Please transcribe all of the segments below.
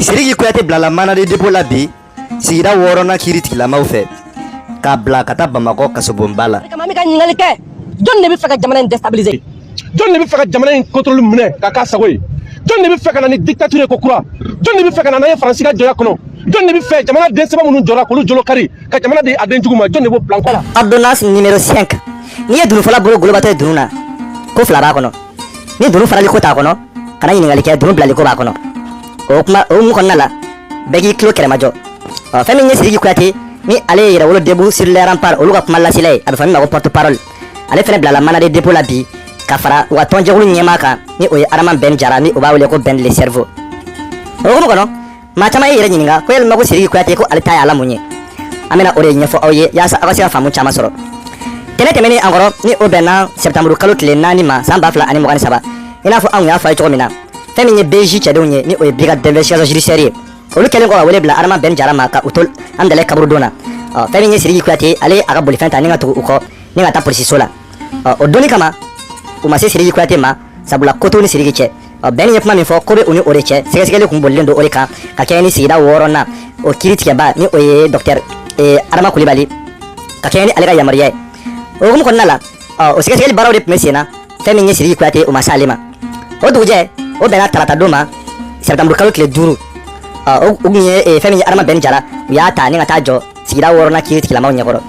Siriki Kuyate bilala mandat de dépôt la bi sigida wɔɔrɔnan kiri tigilamaw fɛ k'a bila ka taa Bamakɔ kasobonba la. Kama an bɛ ka ɲininkali kɛ jɔni de bɛ fɛ ka jamana in déstabiliser jɔni de bɛ fɛ ka jamana in contrôle minɛ k'a k'a sago ye jɔni de bɛ fɛ ka na ni dictature ye ko kura jɔni de bɛ fɛ ka na n'an ye Faransi ka jɔnya kɔnɔ jɔni de bɛ fɛ jamana den sɛbɛ minnu jɔra k'olu jolo kari ka jamana di a den jugu ma jɔni de b'o plan kɔnɔ. Ordonnance numéro 5 n'i ye dunufɔla bolo golobatɔ ye dunun na ko fila b'a kɔnɔ. ni dunu farali ko t'a kɔnɔ kana ɲininkali kɛ dunu bilali ko b'a kɔnɔ o kuma o hukumu kɔnɔna la bɛɛ k'i tulo kɛrɛmajɔ ɔ fɛn min ye siriki kuyate ni ale ye yɛrɛwolo debout sur les remparts olu ka kuma lasela ye a bɛ fɔ min ma ko porte parole ale fɛnɛ bilala mandat de dépôt la bi ka fara u ka tɔnjɛkulu ɲɛmaa kan ni o ye adama bɛn jara ni o b'a wele ko bɛn le cerveau o hukumu kɔnɔ maa caman y'u yɛrɛ ɲininka ko yalima ko siriki kuyate ko ale ta ye ala mun ye an bɛna o de ɲɛfɔ aw ye yaasa aw ka se ka faamu caman sɔrɔ tɛnɛ tɛmɛnen an kɔrɔ ni o bɛnna sɛptanburu kalo tile naani ma san ba fila ani mugan ni saba i n'a fɔ anw y'a fɔ a ye cogo min na fɛn min ye BIJ cɛdenw ye ni o ye brigade d'investigation judiciaire ye olu kɛlen kɔ ka wele bila adama bɛn jara ma ka u to hamdalaye kaburudon na ɔ fɛn min ye siriki kuyate ale y'a ka bolifɛn ta ni ka tugu u kɔ ni ka taa polisiso la ɔ o don nin kama u ma se siriki kuyate ma sabula ko t'u ni siriki cɛ bɛn ye kuma min fɔ ko bɛ u ni o de cɛ sɛgɛsɛgɛli kun bolilen don o de kan ka kɛɲɛ ni sigida wɔɔrɔnan o kiri tigɛba ni o ye dɔktɛri adama kulibali ka kɛɲɛ ni ale ka yamaruya ye o hukumu kɔnɔna la o sɛgɛsɛgɛli baaraw de tun bɛ sen na fɛn min ye siriki kuyate o ma se ale ma o dugujɛ o bɛnna tarata don ma sɛptanburu kalo tile duuru o tun ye fɛn min ye adama bɛn jara u y'a ta ni ka taa jɔ sigida wɔɔrɔnan kiri tigilamaw ɲɛkɔrɔ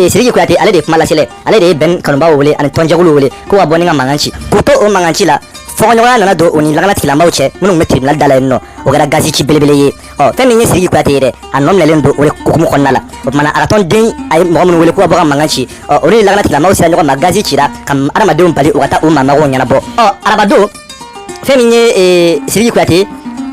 siriki kuyate ale de ye kuma lasela ale de ye bɛn kanubaaw wele ani tɔnjɛkuluw wele k'u ka bɔ ni ka mankan ci k'u to o mankan ci la fɔɲɔgɔnya nana don o ni lakana tigilamaaw cɛ minnu tun bɛ tribunal da la yen nɔ o kɛra gazi ci belebele ye ɔ fɛn min ye siriki kuyate ye dɛ a nɔ minɛlen don o de hukumu kɔnɔna la o tumana a ka tɔnden a ye mɔgɔ minnu wele k'u ka bɔ ka mankan ci ɔ olu ni lakana tigilamaaw sera ɲɔgɔn ma gazi cira ka adamadenw bali u ka taa u maa magow ɲɛnabɔ ɔ arabadon fɛn min ye siriki kuyate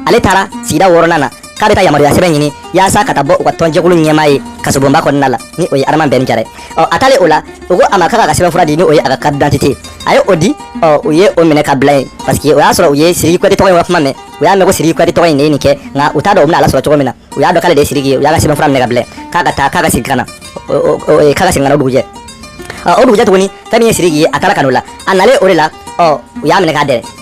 ale taara sigida wɔɔrɔnan na k'a bɛ taa yamaruya sɛbɛn ɲini yaasa ka taa bɔ u ka tɔnjɛkulu ɲɛmaa ye kasobonba kɔnɔna la ni o ye adama bɛn jara ye ɔ a taalen o la u ko a ma k'a k'a ka sɛbɛn fura di ni o ye a ka carte d'identité a ye o di ɔ u ye o minɛ ka bila yen parce que o y'a sɔrɔ u ye siriki kuyate tɔgɔ in ka kuma mɛn u y'a mɛn ko siriki kuyate tɔgɔ in ne ye nin kɛ nka u t'a dɔn u bɛna ale sɔrɔ cogo min na u y'a dɔn k'ale de ye siriki ye u y'a ka sɛbɛn fura minɛ ka bila k'a ka taa k'a ka segin ka na k'a ka segin ka na o dugujɛ o dugujɛ tuguni fɛn min ye siriki ye a taara ka n'o la a nalen o de la ɔ u y'a minɛ k'a dɛrɛ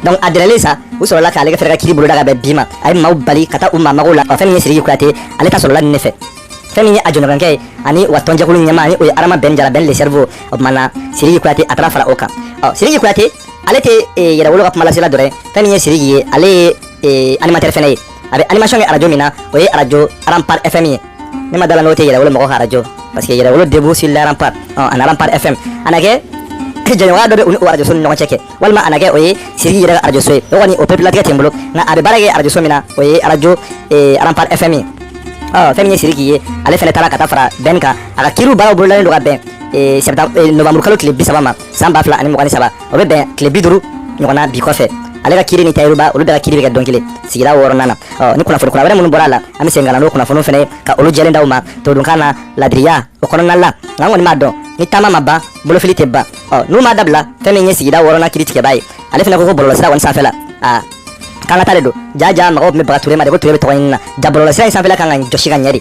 donc a dɛrɛlen sa u sɔrɔla k'ale fɛnɛ ka kiri boloda ka bɛn bi ma a ye maaw bali ka taa u maa mago la fɛn min ye siriki kuyate ale ta sɔrɔla nin ne fɛ fɛn min ye a jɔɲɔgɔnkɛ ye ani u ka tɔnjɛkulu ɲɛmaa ni o ye adama bɛn jara bɛn le cerveau o tuma na siriki kuyate a taara fara o kan ɔ siriki kuyate ale tɛ yɛrɛwolo ka kumalasela dɔrɔn ye fɛn min ye siriki ye ale ye animatɛri fɛnɛ ye a bɛ animation kɛ arajo min na o ye arajo rempart fm ye ne ma d'a la n'o tɛ yɛrɛwolo mɔgɔ ka arajo parce que yɛrɛwolo debout sur les remparts ɔ ani rempart fm a na kɛ jɛɲɔgɔnya dɔ bɛ u ni o arajoso ni ɲɔgɔn cɛ kɛ walima a na kɛ o ye siriki yɛrɛ ka arajoso ye o kɔni o pepulatigɛ tɛ n bolo nka a bɛ baara kɛ arajoso min na o ye arajo arampar fm ye fɛn min ye siriki ye ale fana taara ka taa fara bɛn kan a ka kiriw baaraw bololalen don ka bɛn nowanburu kalo tile bi saba ma san ba fila ani mugan ni saba o bɛ bɛn tile bi duuru ɲɔgɔnna bi kɔfɛ ale ka kiiri ni tayiru ba olu bɛɛ ka kiiri bɛ kɛ don kelen sigida wɔɔrɔnan na ɔ ni kunnafoni kura wɛrɛ minnu bɔra a la an bɛ segin ka na n'o kunnafoniw fana ye ka olu jɛlen d'aw ma todunkan na ladiriya o kɔnɔna la nka an kɔni b'a dɔn ni taama ma ban bolofili tɛ ban ɔ n'u m'a dabila fɛn min ye sigida wɔɔrɔnan kiiritigɛba ye ale fana ko ko bɔlɔlɔsira kɔni sanfɛ la aa k'an ka taa de don jaa jaa mɔgɔw tun bɛ baga ture ma de ko ture bɛ tɔgɔɲini na jaa bɔlɔlɔsira in sanfɛla kan ka jɔsi ka ɲɛ de